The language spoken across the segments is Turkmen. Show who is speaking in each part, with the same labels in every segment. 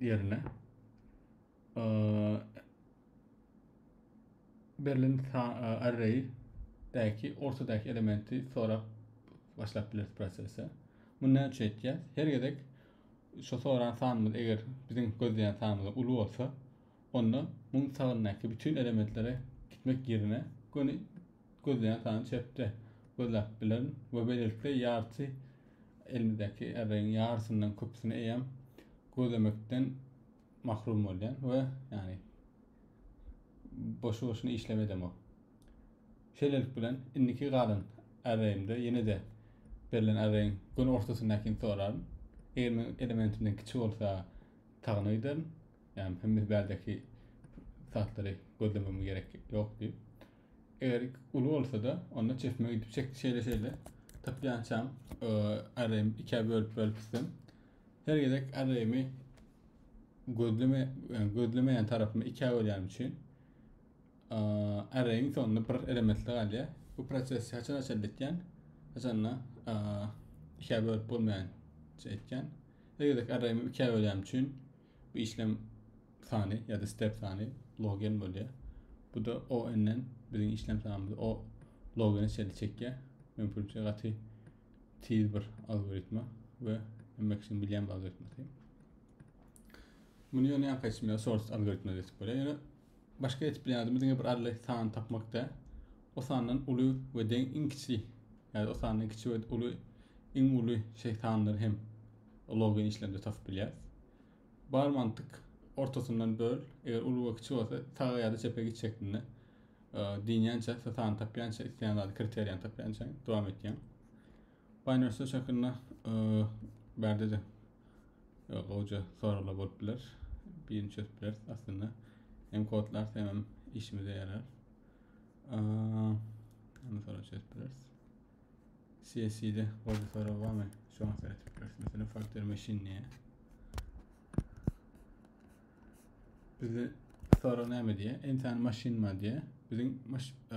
Speaker 1: ýerine berlen array däki ortadaky elementi sorap başlap bileris prosese. Bunu näme üçin etýär? Her gezek şu soran sanymyz eger biziň gözleýän sanymyzdan uly bolsa, onda muň sagyndaky bütün elementlere gitmek ýerine göni Gözleýän sany çepde gözläp bilerin we beýlelikde ýarty elimizdäki ärregiň ýarysyndan köpüsini eýýäm gözlemekden mahrum bolýan we ýagny boşu-boşuna işlem edemok. Şeýlelik bilen indiki galan ärregimde ýene-de berlen ärregiň gün ortasyndakyny soraryn. Eger men elementimden kiçi bolsa tagyna giderin. Ýagny hemme bärdeki satlary gözlemegime gerek ýok diýip. Eger uly bolsa-da, onda çesme gidip çekdi şeýle-şeýle. Tapýançam arraýym ikä bölüp bölüp gitsem. Her gezek arraýymy gözleme yani gözlemeýän tarapymy ikä bölýän üçin arraýyň sonunda bir elementli galýar. Bu proses haçan haçan etýän? Haçanda ikä bölüp bolmaýan şey etýän. Her gezek arraýymy ikä bölýän üçin Bu işlem sany ýa-da step sany logen bolýar. Bu-da ON-den biziň işlem sanymyzy O logene çenli çekýär. Mümkinçe gaty tiz bir algoritma we hemme kişiniň bilýän bir algoritmasy. Muny ýöne ýanka içmä source algoritma diýip bolýar. Ýöne Başga etip bilen zadymy diňe bir arly sany tapmak däl. O sandan uly we deň iň kiçi ýa-da o sandan kiçi we uly iň uly şeý sanlary hem login işlemde tapyp bilýäs. Bar mantyk ortasyndan böl, eger uly we kiçi bolsa saga ýa-da çepe git şeklinde e, diýýänçä, sany tapýança, isleýän zady kriteriýany tapýança dowam etýäň. Binance şekilde bärde de gowja soraglar bolup biler. Birini çözüp bileris aslynda. Hem kodlar hem işimize yarar. Onu sonra çözüp bileris. CSC'de gowja sorag barmy? Şu an seretip bileris. Mesela Factor Machine diye. Bizi soru näme diye? Entan machine ma diye. Bizim maş, e,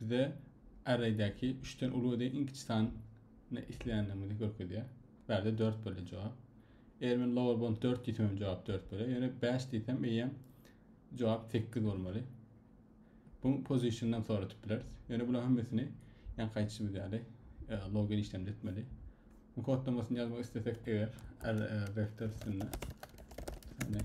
Speaker 1: Bizde arraýdäki üçden uly we deň iň kiçi sany isleýändigimizi görkezýär. Bu ýerde dört bolýar jogap. Eger men lower bound dört diýsem hem jogap dört bolýar. Ýöne bäş diýsem eýýäm jogap sekiz bolmaly. Bu positiondan soradyp bileris. Ýöne bularyň hemmesini ýankaýçymyz ýaly e, login işlemde etmeli. Bu kodlamasyny ýazmak islesek eger e, vektor üstünde. Yani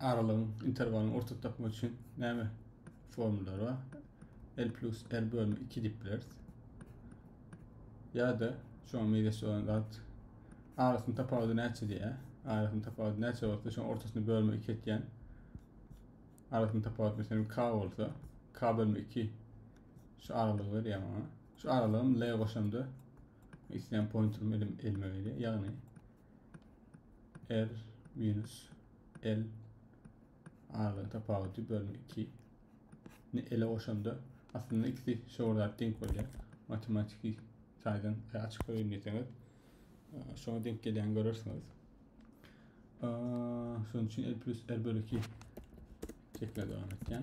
Speaker 1: aralygyň, interwalyň orta tapmak üçin näme formulary bar? L plus R bölüni 2 diýip bileris. Ýa-da şoňa meýleş bolan zat arasynyň tapawudy näçe diýýär? Arasynyň tapawudy näçe bolsa, şoň ortasyny bölme 2 etýän. Arasynyň tapawudy meselem k bolsa, k bölme 2 şu aralygy berýär maňa. Şu aralygym L goşamda isleýän pointerimi elime berýär. Ýagny R minus L aralygyň tapawudy bölün 2 ni ele goşanda aslynda ikisi şol zat denk bolýar. Matematiki taýdan e, açyk goýun diýseňiz, e, şoňa denk gelýän görersiňiz. Şonuň üçin L plus R bölü 2 şekline dowam etýän.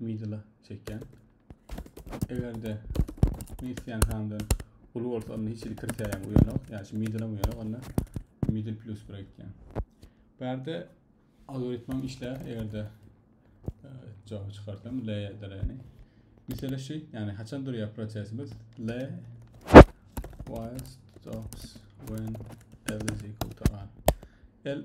Speaker 1: middle çekýän. Eger-de missiýan hamdan uly bolsa onda hiç hili kriterýam uýanok. Ýa şu middle uýana onda middle plus bir etýän. Bu ýerde algoritmam işleýär. Eger-de e, jogap çykarsam L däleni. Mesela şu, ýagny haçan durýar prosesimiz L while stops when L is equal to R. L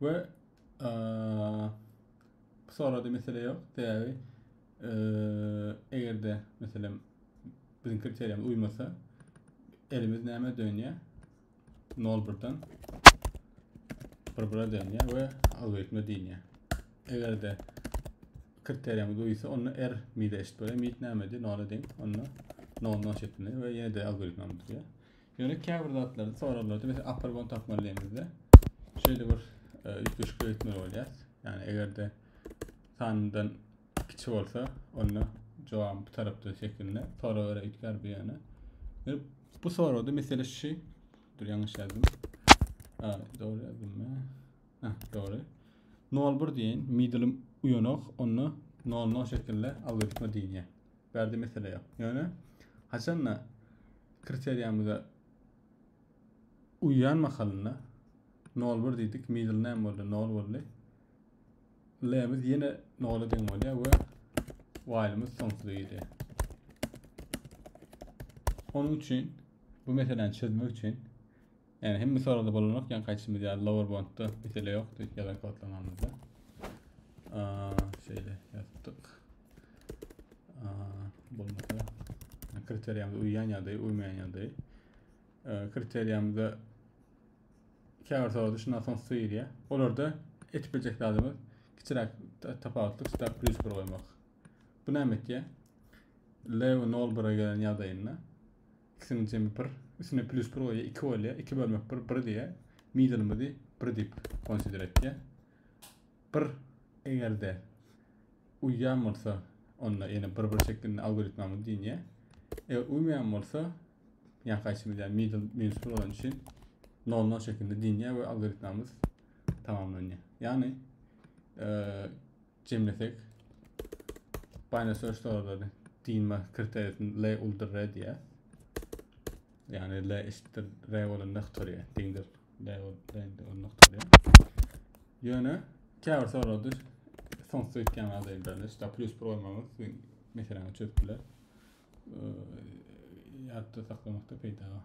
Speaker 1: we bu sorada mesele ýok. Sebäbi eger-de meselem biziň kriteriýamyz uýmasa elimiz näme dönýär? 0-1-den 1-1-e dönýär we algoritme diýilýär. Eger-de kriteriýamyz uýsa, onda R mide eşit bolýar. Mid nämedi? 0-a deň. Onda 0-dan şekillenýär we ýene-de algoritmamyz diýýär. Ýöne käbir zatlary soraglarda biz apargon tapmalyýemizde şeýle bir üýtgeşik öýtmeli bolýas. Ýani egerde sanyndan kiçi bolsa, onda jogabyň bu tarapda şekilinde sorag göre üýtgär bu ýöne. Ýöne bu soragda mesele şu. Dur ýalňyş ýazdym. Ha, dogry ýazdym. Ha, dogry. 01 diýen middle uýanok, onda 00 şekilde algoritma diýilýär. Bärde mesele ýok. Ýöne haçanda kriteriýamyza uýýan mahalynda nol bir diýdik, middle name boldy, nol boldy. L-miz ýene nola deň bolýar we while-miz soňsuza gidýär. Onuň üçin bu meseläni çözmek üçin Ýani hemme soragda bolanok ýani gaýtşymyz ýaly lower boundda mesele ýokdy ýazan kodlamanymyzda. Şeýle ýazdyk. Bolmasa kriteriýamyza uýýan ýagdaý, uýmaýan ýagdaý. Kriteriýamyzda käbir soragda şundan soň söýülýär. Olarda etip biljek zadymyz kiçiräk tapawutlyk stak plus bir goýmak. Bu näme etýär? Lew 0 1 gelen ýagdaýynda ikisiniň jemi bir üstüne plyus bir goýýar iki bolýar iki bölmek bir bir diýýär middle'ymyzy bir diýip konsider etýär bir egerde uýýan bolsa onda ýene bir bir şeklinde algoritmamyz diýinýär eger uýmaýan bolsa ýan kaýsymyz ýa middle minus bir bolan üçin nol nol şeklinde diýinýär we algoritmamyz tamamlanýar ýagny e, Jemlesek, Binary Search Tower'da diýme kriteriýasyny L uldur R diýýär. Ýagny L eşitdir R bolan noktoryýa, deňdir L bolan noktoryýa. Ýöne käbir soralarda soňsuz etýän adamlar, işte plus bir olmagyz meseleni çözüp biler. Ýatda saklamakda peýda bar.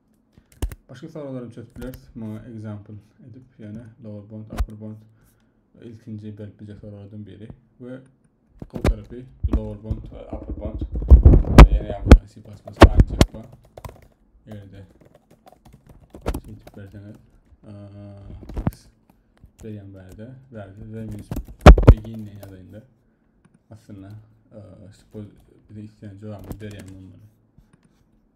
Speaker 1: Başga soralar hem çözüp bileris. Muňa example edip ýöne lower bound, upper bound ilkinji berip biljek soralardan biri we gowy tarapy lower bound we upper bound ýene ýagdaýda C++ aynı çekme. Ýerde şeýtip berseňiz x berýän bärde bärde de minus begin diýen ýagdaýynda aslynda bize isleýän jogabymyz berýän bolmaly.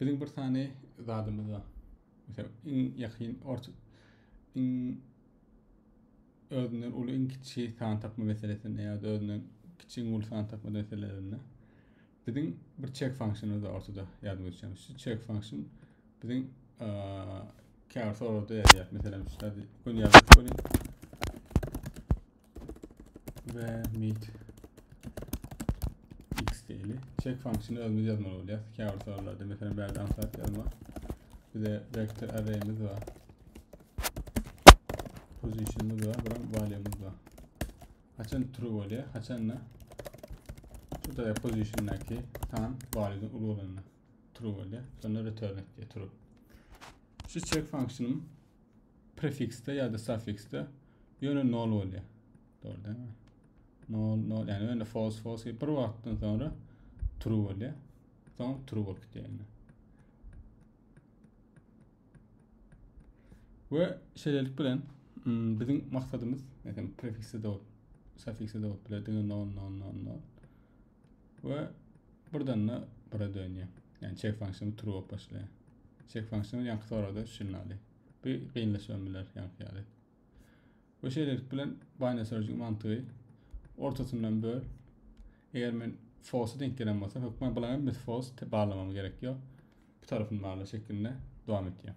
Speaker 1: Biziň bir sany zadymyz bar. Mesela iň ýakyn orta iň özünden uly iň kiçi san tapma meselesinde ýa-da özünden kiçi iň uly san tapma meselelerinde biziň bir check funksiyonymyz bar ortada ýadyňyz düşen. Şu check funksiyon biziň käbir soragda ýazýar. Meselem, şu zady göni ýazyp goýaýyn. we meet x diýeli. Check funksiýony özümiz ýazmaly bolýar. Käbir soralarda meselem bärde ansat ýazma. Bize vektor array'miz bar. Position'ymyz bar, bilen value'miz bar. Haçan true bolýar, haçan da şurada position'daki san value'dan uly bolanda true bolýar. Sonra return et diýär true. Şu check funksiýanym Prefiksde ýa-da suffiksde ýöne nol bolýar. Dogry dälmi? Nol, nol, ýani ýöne false, false bir wagtdan soňra true bolýar. Soň true bolup gitýär. We şeýlelik bilen hmm, biziň maksadymyz, meselem, prefiksde de, suffiksde de bolup biler, diňe nol, nol, nol, nol. we birden-de bire dönýär. Ýani check function true bolup başlaýar. Check function ýaňky soragda üçünini alýar. Bu gynlaşybam biler ýaňky ýaly. We şeýlelik bilen binary search-iň mantygy ortasyndan böl. Eger men false denk gelen bolsa, hökman bulaň hem false barlamam gerek ýok. Bu tarafyny barla şeklinde dowam etýär.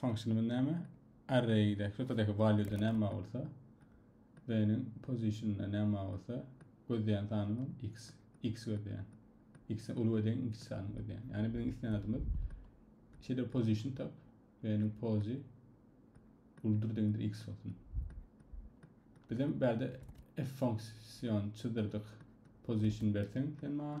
Speaker 1: Functionymyz näme? Array-de, şurtadaki value-da näme bolsa, b-niň position-da näme bolsa, gözleýän sanymyz x, x gözleýän. X uly gözleýän, x sany gözleýän. Ýani biziň isleýän adymyz şeýle position tap, b-niň pozi uludyr deňdir x bolsun. Biz hem bärde f function çyzdyrdyk. Position berseň sen maňa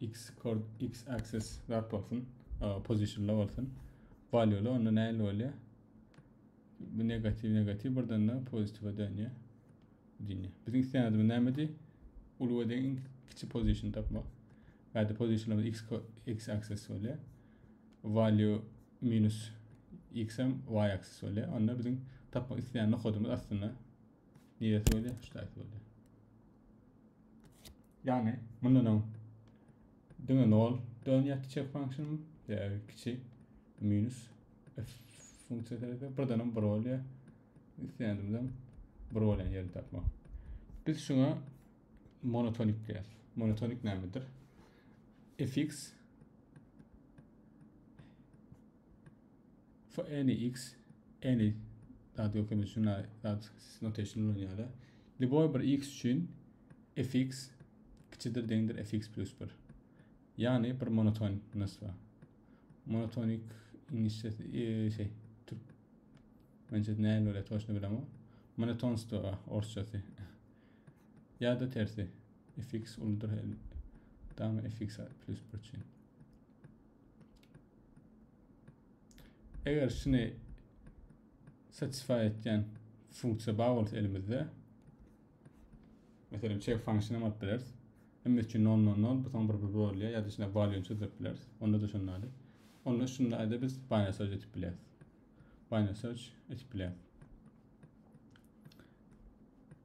Speaker 1: X kord X axis zat bolsun. Position'da bolsun. Value'li onda näli bolýar? Bu negatiw negatiw birden de pozitiwa dönýär. Diýne. Biziň isleýänimiz nämedi? Uly we deň kiçi position tapmak. Bäde position'da X X axis bolýar. Value minus X hem Y axis bolýar. Onda biziň tapmak isleýän nokadymyz aslynda neresi bolýar? Şu taýda bolýar. Yani mundan öň diňe nol dönýär çek function ya kiçi minus f funksiyasy ise birden bir bolýar. İsteyendimden bir bolýan yerini tapmak. Biz şuna monotonik diýýäs. Monotonik nämedir? fx So any x any zat ýok indi şuna zat notation ulanýar. Liboy bir x üçin fx kiçidir deňdir fx plus 1. Ýagny bir monoton nasba. Monotonik inişde e, şey türk Mence näme öyle toşna bilemem. Monotonstwo orsçasy. ya da tersi. fx uludyr. Tamam fx plus 1 üçin. Eger şuny satisfy etýän funksiýa bar bolsa elimizde meselem check function hem alyp bileris. Hem üçin non non non bu soň bir bir bolýar ýa-da içine value çözüp bileris. Onda da şunda da. Onda şunda aýda biz binary search etip bileris. Binary search etip bileris.